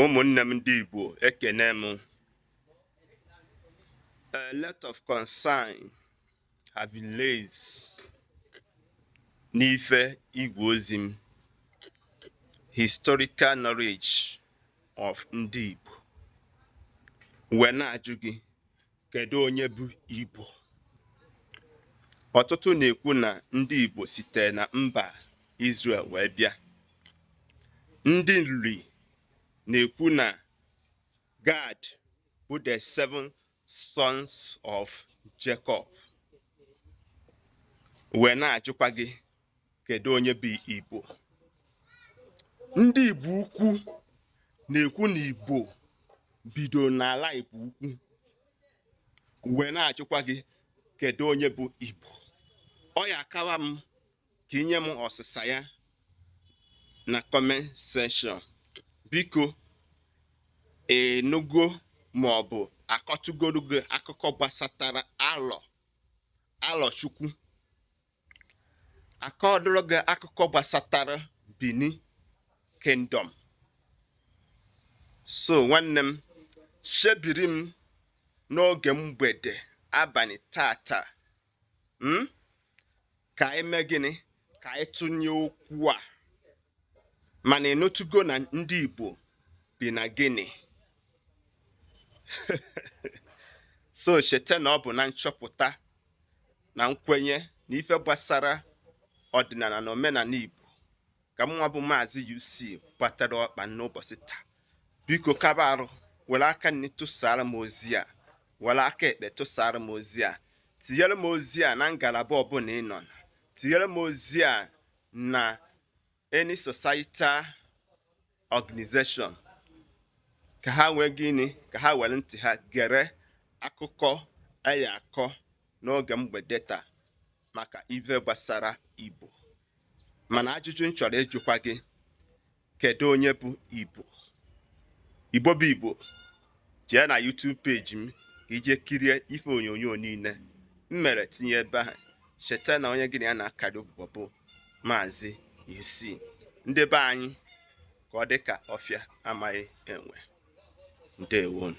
ụmụnne m ndị Igbo ekene m a lot of concern have been raised n'ife igwe ozi m historical knowledge of ndị Igbo wee na-ajụ gị Kedu onye bụ Igbo? Ọtụtụ na-ekwu na ndị Igbo sitere na mba Izrel wee bịa. Ndị Nri na-ekwu na Gad bụ the seven sons of Jacob. Wee na-ajụkwa gị kedu onye bụ Igbo ndị Igbo Ukwu na-ekwu na Igbo bido n'ala Igbo Ukwu wee na-ajụkwa gị kedu onye bụ Igbo ọ ya akawa m ka i nye m ọsịsa ya na comment section biko ị nụgo ma ọ bụ a kọtụgoro gị akụkọ gbasatara Alọchukwu a kọtụrụ gị akụkọ gbasatara Bini Kingdom so nwanne m chebiri m n'oge mgbede abalị tata hmm? ka anyị mee gịnị ka anyị tụnye okwu a mana ị nụtụgo na ndị Igbo bi na Guinea so cheta na ọ bụ na nchọpụta na nkwenye na ife gbasara ọdịnala na omenala Igbo ka mụnwa bụ maazị UC gbatara ọkpa n'ụbọchị taa biko kaba arụ were aka nri tụsara m ozi a were aka ekpe tụsara m ozi a tinyere m ozi a na ngalaba ọbụla ị nọ na tinyere m ozi a na any societal organization ka ha nwee gịnị ka ha were ntị ha gere akụkọ a ya-akọ n'oge mgbede taa maka ife gbasara Igbo mana ajụjụ m chọrọ ịjụkwa gị kedu onye bụ Igbo Igbo bụ Igbo jee na YouTube page m ka i jee kirie ife onyonyo niile m mere tinye ebe ahụ cheta na onye gị na ya na-akparị ụbụbọ bụ maazị UC ndị be anyị ka ọ dị ka ọfịa amaghị enwe ndewonụ